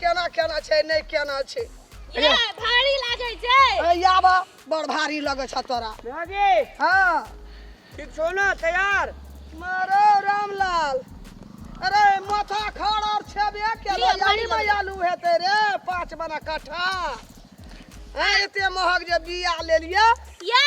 केना केना छै नै केना छै ये भारी लागै छै ए आबा बड़ भारी लगै छ तोरा भागी हां ठीक छौ ना तैयार मारो रामलाल अरे माथा खड़ और छेबे के लयाली में आलू हेते रे पांच बना कट्ठा ए एते महग जे बिया ले लिए ये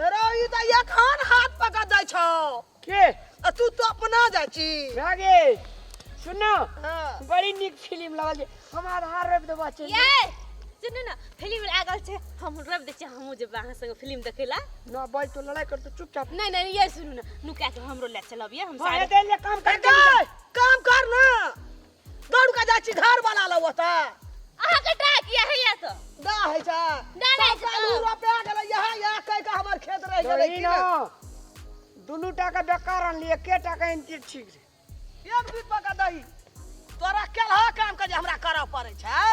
रे ई त एखन हाथ पकड़ जाइ छौ के आ तू तो अपना जाइ छी रागे सुन ना हाँ। बड़ी नीक फिल्म लगल छै हम आधार रवि देबा चल ये सुनू ना फिल्म लागल छै हम रब दै छियै हमहूँ जेबै अहाँ संगे फिल्म देखै लए ना बाज तो लड़ाई कर तो चुपचाप नहि नहि ये सुनू ना नुका के हमरो लए चलब ये हम हाँ, सारे एते ले काम कर ए, काम कर ना दौड़ के जाइ छी घर वाला लग ओतऽ अहाँ के टा किया है या तो ना होइ छै ना ना सब कालू रोपे गेलै यहाँ यहाँ कहि के हमर खेत रहि गेलै की ने दुनू टा के बेकार अनली एके टा के अनती ठीक रे एक बीत पका दही तोरा केलहा काम के जे हमरा करऽ पड़ै छै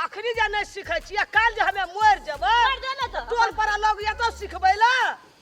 अखनी जे नहि सिखै छियै काल्हि जे हमे मरि जेबै कर दो ना तो तोर पर लोग एतौ सिखबै लए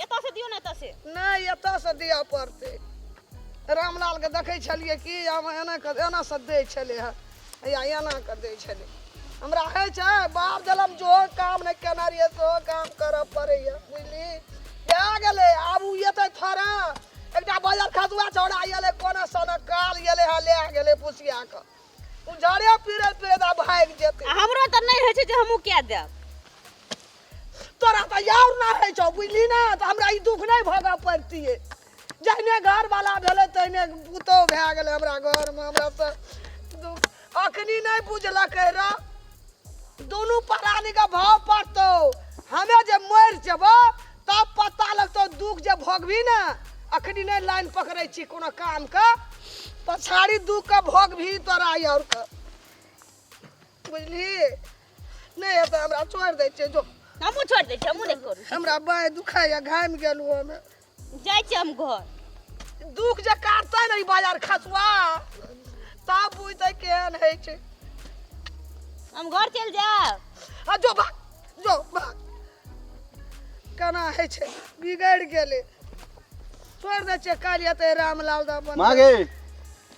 एतऽ से दियौ ने एतऽ से नहि एतऽ से दिअ पड़तै रामलालके देखै छलियै कि आब एना कऽ एना से दै छलै हँ या एना कऽ दै छलै हमरा होइ छै बाप जलम जो काम नहि केना रहियै सेहो काम करऽ पड़ैए बुझली भए गेलै आब ओ एतै थोड़ा एकटा बजर खसुआ छौड़ा एलै कोना सोना काल एलै हँ लए गेलै पुसिया कऽ ओ जड़े पीड़ैत पीड़ैत आब भागि जेतै आ हमरो तऽ नहि होइ छै जे हमहूँ कए देब तोरा तऽ यार ना होइ छौ बुझली ना तऽ हमरा ई दुख नहि भोगऽ पड़तियै जहने घरवाला भेलै तहने पुतहु भए गेलै हमरा घरमे हमरा तऽ दुख अखनी नहि बुझलकै र दुनू प्राणीके भाव पड़तौ हमे जे मरि जेबो तब पता लगतौ दुख जे भोगबी ने अखनी नहि लाइन पकड़ै छी कोनो कामके पछाड़ी दुखके भोगबी तोरा यारके बुझली नहि हेतै हमरा छोड़ि दै छियै जो हमहूँ छोड़ि दै छियै हमहूँ नहि करू हमरा बाँहि दुखाइए घामि गेलहुँ हमे जाइ छियै हम घर दुख जे काटतै ने ई बाजार खसुआ तब बुझतै केहन होइ छै हम घर चलि जायब आ जो भाग जो भाग केना होइ छै बिगड़ि गेलै छोड़ि दै छियै काल्हि हेतै रामलाल दा अपन माँ गे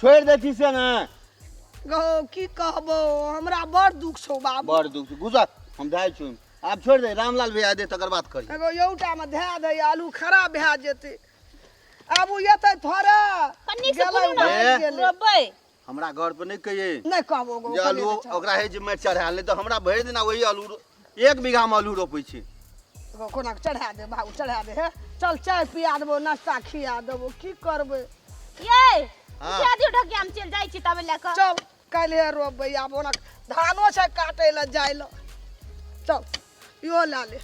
छोड़ि दै छी से ने गौ की कहबो हमरा बड़ दुख छौ बाबू बड़ दुख छै गुजर हम जाइ छी आब छोड़ि दे रामलाल भैया दे तकर बात करी एगो यौटामे धए दै आलू खराब भए जेतै आब ओ एतै थोड़े कन्नी से गेलै, बोलू ने भागि गेलै। रोबै हमरा घर पर नहि कहिए नहि कहबो गौ जे कनी आलू तऽ चल। ओकरा हे जे माटि चढ़ायल नहि तऽ हमरा भरि दिना वही आलू एक बीघा में आलू रोपे छी एगो कोना के चढ़ा दे बाबू चढ़ा दे हे चल चाय पिया देबो नाश्ता खिया देबो की करबै ये हाँ। उठा दियो ढकिया हम चल जाई छी तबे ले क चल काल्हे रोपबै आब ओना धानो छै काटै लए जाय लए चल इहो लए ले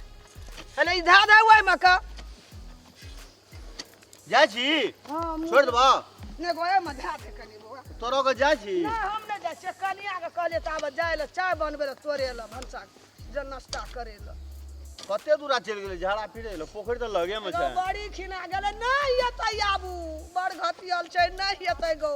अरे ई धा दे ओहिमे का जाइ छी हम छोड़ि देबऽ ने गोए में ध्यान दे कनी बौआ तोरो के जाइ छी ना हम नहीं जाए छे कनिया के कहले त आब जाए ले चाय बनबे ले तोरे ले भनसा जे नाश्ता करे ले कते दूरा चलि गेलै झाड़ा फिरे ले पोखरि तऽ लगे मे छै बड़ी खिना गेले नहीं एतै आबू बड़ घटियल छै नहीं एतै गौ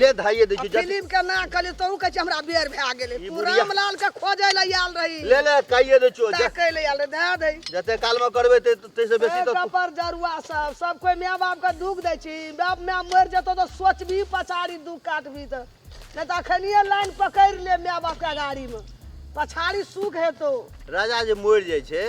ले धाइए दै आ छी जल्दी फिल्म के ना कहली तू कहे छी हमरा बेर भए गेलै ई तू बुढ़िया- रामलाल के खोजे ले आयल रही ले ले काइए दै छियो ता कहे ले आयल रही दए दे जते काल में करबे ते ते से बेसी तो पर जरुआ सब सब कोई माय बाप के दुख दै छी बाप माय मर जेतो तो सोचबी पछाड़ी दुख काटबी त नहीं तो अखनिए लाइन पकड़ ले माय बाप के गाड़ी में पछाड़ी सुख हेतो राजा जे मरि जाइ छै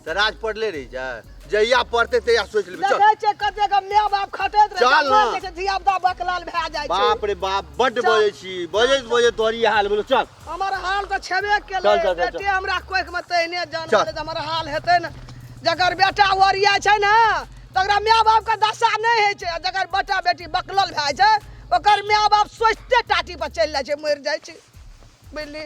तऽ राज पड़ले रहि जाय जहिया पड़तै तहिया सोचि लेबै चल देखै छै कते के माय बाप खटैत रहे चल जवान ने। देखै छै धिया पुता बकलाल भए जाइ छै बाप रे बाप बड्ड चल। बजै छी बजैत बजैत तोहर ई हाल भेलो चल हमर हाल तऽ छेबे चल, केलै चल, चल, चल। बेटे हमरा कोखि मे तहिने जान चल। भेलै तऽ हमर हाल हेतै ने जकर बेटा ओरिया छै ने तकरा माय बाप के दशा नहि होइ छै आ जकर बेटा बेटी बकलल भए जाइ छै ओकर माय बाप सोचिते टाटी पर चलि जाइ छै मरि जाइ छै बुझली